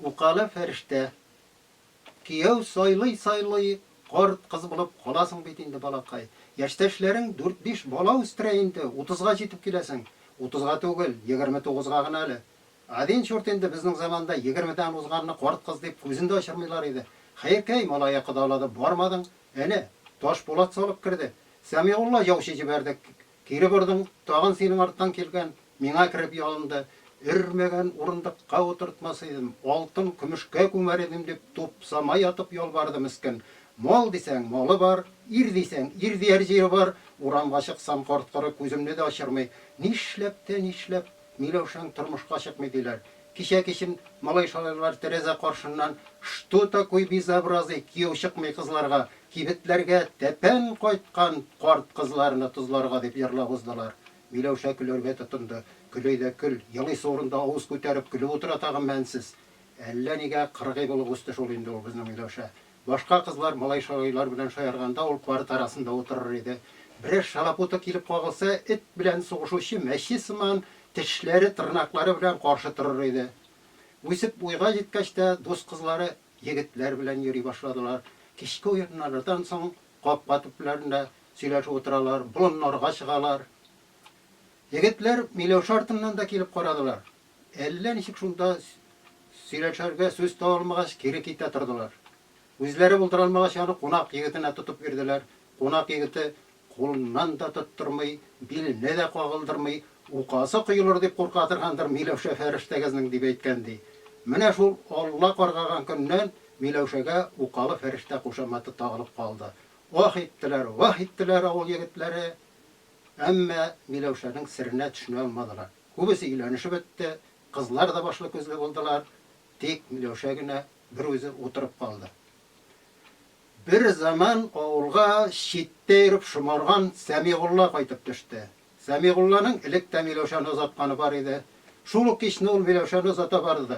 Укалы фәрештә. Кияү сайлый-сайлый карт кыз булып каласың бит инде, балакай. Яшьтәшләрең дүрт-биш бала үстерә инде, утызга җитеп киләсең. Утызга түгел, егерме тугызга гына әле. Адин чурт инде безнең заманда егермедән узганны карт кыз дип күзен дә ачырмыйлар иде. Хәеркәй, малае кодалады, бармадың. Әнә, Ташпулат салып керде. Сәмигулла яучы җибәрдек. Кире бордым, тагын синең арттан килгән, миңа кереп ялынды. Өрмәгән урындыкка утыртмас идем, алтын, көмешкә күмәр идем, дип тупсама ятып ялварды мескен. Мал дисәң, малы бар, ир дисәң, ир дияр җире бар, урамга чыксам, корт-коры күземне дә ачырмый. Нишләп тә нишләп. Миләүшәң тормышка чыкмый, диләр. Кичә-кичен малай-шалайлар тәрәзә каршыннан Что такой безобразый, кияү чыкмый кызларга, кибетләргә тәпән кайткан карт кызларны тозларга, дип җырлап уздылар. Миләүшә көләргә тотынды. Көләй дә көл, елыйсы урында авыз күтәреп көлеп утыра тагын мәнсез. Әллә нигә кыргый булып үсте шул инде ул безнең Миләүшә. Башка кызлар малай-шалайлар белән шаярганда ул парта арасында утырыр иде. Берәр шалапуты килеп кагылса, эт белән сугышучы мәче сыман тешләре, тырнаклары белән каршы торыр иде. Үсеп уйга җиткәч тә, дус кызлары егетләр белән йөри башладылар. Кичке уеннардан соң капка төпләрендә сөйләшеп утыралар, болыннарга чыгалар. Егетләр Миләүшә артыннан да килеп карадылар. Әллә ничек шунда сөйләшергә сүз таба алмагач, кире китә тордылар. Үзләре булдыра алмагач, аны кунак егетенә тотып бирделәр. Кунак егете кулыннан да тоттырмый, биленә дә кагылдырмый, указы коелыр дип курка торгандыр Миләүшә фәрештәгезнең, дип әйткән, ди. Менә шул Алла каргаган көннән Миләүшәгә укалы фәрештә кушаматы тагылып калды. Ах иттеләр, ваһ иттеләр авыл егетләре, әмма Миләүшәнең серенә төшенә алмадылар. Күбесе өйләнешеп бетте, кызлар да башлы-күзле булдылар, тик Миләүшә генә бер үзе утырып калды. Бер заман авылга читтә йөреп шомарган Сәмигулла кайтып төште. Сәмигулланың элек тә Миләүшәне озатканы бар иде. Шул ук кичне ул Миләүшәне озата барды.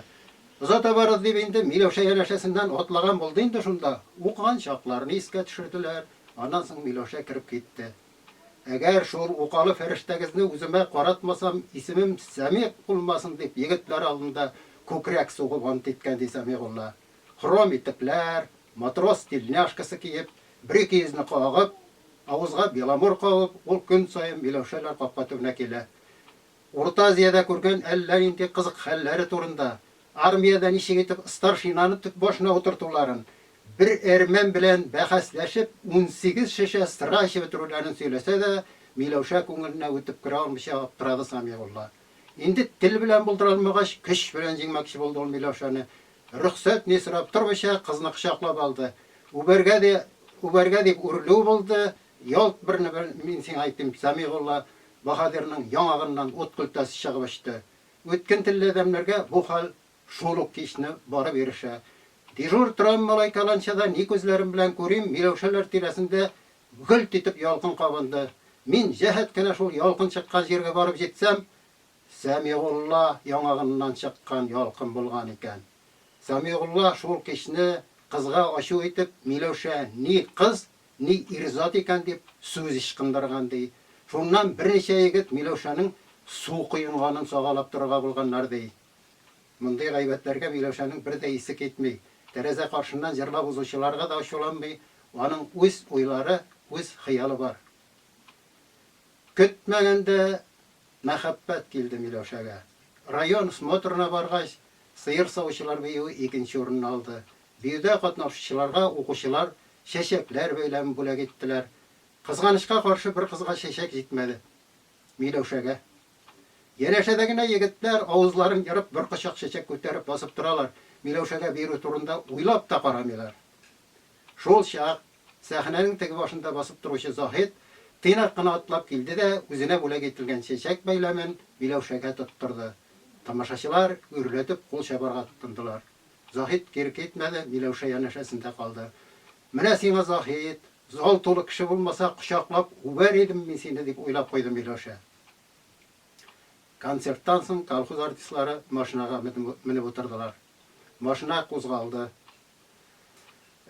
Озата барыр дип инде Миләүшә янәшәсеннән атлаган булды инде, шунда укыган чакларны искә төшерделәр, аннан соң Миләүшә кереп китте. Әгәр шул укалы фәрештәгезне үземә каратмасам, исемем Сәмигъ булмасын, дип, егетләр алдында күкрәк сугып ант иткән, ди Сәмигулла. Хром итекләр, матрос тельняшкасы киеп, бер ике йөзне кагып, авызга беломор кагып, ул көн саен Миләүшәләр капка төбенә килә. Урта Азиядә күргән әллә нинди кызык хәлләре турында, армиядә ничек итеп старшинаны төп башына утыртуларын, бер әрмән белән бәхәсләшеп, унсигез шешә сыра эчеп бетерүләрен сөйләсә дә, Миләүшә күңеленә үтеп керә алмыйча аптырады Сәмигулла. Инде тел белән булдыра алмагач, көч белән җиңмәкче булды ул Миләүшәне. Рөхсәт ни сорап тормыйча, кызны кочаклап алды. Үбәргә дә үбәргә дип үрлү булды, Ялт берне-бер мин сиңа әйтим, Сәмигулла баһадирның яңагыннан ут көлтәсе чыгып очты. Үткен телле адәмнәргә бу хәл шул ук кичне барып ирешә. Дежур торам малай каланчада ни күзләрем белән күрим, Миләүшәләр тирәсендә гөлт итеп ялкын кабынды. Мин җәһәт кенә шул ялкын чыккан җиргә барып җитсәм, Сәмигулла яңагыннан чыккан ялкын булган икән. Сәмигулла шул кичне кызга ачу итеп, Миләүшә ни кыз, Ни ир-зат икән дип, сүз ычкындырган, ди. Шуннан берничә егет Миләүшәнең су коенганын сагалап торырга булганнар, ди. Мондый гайбәтләргә Миләүшәнең бер дә исе китми. Тәрәзә каршыннан җырлап узучыларга да ачуланмый, аның үз уйлары, үз хыялы бар. Көтмәгәндә мәхәббәт килде Миләүшәгә. Район смотрына баргач, сыер савучылар биюе икенче урынны алды. Биюдә катнашучыларга укучылар чәчәкләр бәйләмен бүләк иттеләр. Кызганычка каршы, бер кызга чәчәк җитмәде. Миләүшәгә. Янәшәдә генә егетләр, авызларын ерып, бер кочак чәчәк күтәреп басып торалар, Миләүшәгә бирү турында уйлап та карамыйлар. Шул чак сәхнәнең теге башында басып торучы Заһит тыйнак кына атлап килде дә үзенә бүләк ителгән чәчәк бәйләмен Миләүшәгә тоттырды. Тамашачылар гөрләтеп кул чабарга тотындылар. Заһит кире китмәде, Миләүшә янәшәсендә калды. Менә сиңа, Заһит! Зал тулы кеше булмаса, кочаклап үбәр идем мин сине, дип уйлап куйды Миләүшә. Концерттан соң колхоз артистлары машинага менеп утырдылар. Машина кузгалды.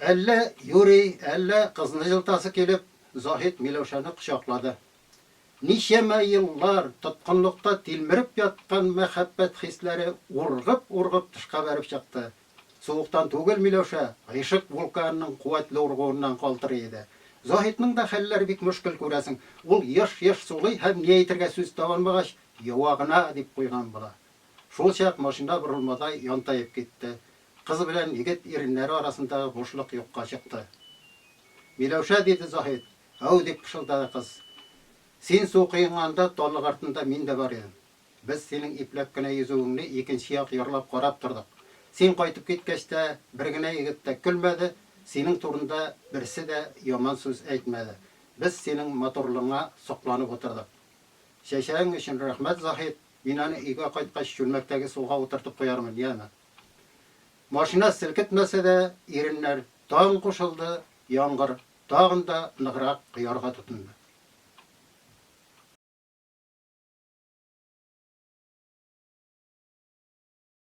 Әллә юри, әллә кызны җылытасы килеп, Заһит Миләүшәне кочаклады. Ничәмә еллар тоткынлыкта тилмереп яткан мәхәббәт хисләре ургып-ургып тышка бәреп чыкты. Суыктан түгел Миләүшә, гыйшык вулканының куәтле ургуыннан калтырый иде. Заһитның да хәлләре бик мөшкел, күрәсең, ул еш-еш сулый һәм, ни әйтергә сүз таба алмагач, йоа гына дип куйган була. Шулчак машина борылмадай янтаеп китте. Кыз белән егет иреннәре арасындагы бушлык юкка чыкты. Миләүшә, диде Заһит, Ау! дип пышылдады кыз. Син су коенганда, таллык артында мин дә бар идем. Без синең ипләп кенә йөзүеңне икенче як ярлап карап тордык. Син кайтып киткәч тә, бер генә егет тә көлмәде, синең турында берсе дә яман сүз әйтмәде. Без синең матурлыгыңа сокланып утырдык. Чәчәгең өчен рәхмәт, Заһит. Мин аны өйгә кайткач чүлмәктәге суга утыртып куярмын, яме. Машина селкетмәсә дә, иреннәр, Таң кушылды, яңгыр, тагын да ныграк коярга тотынды.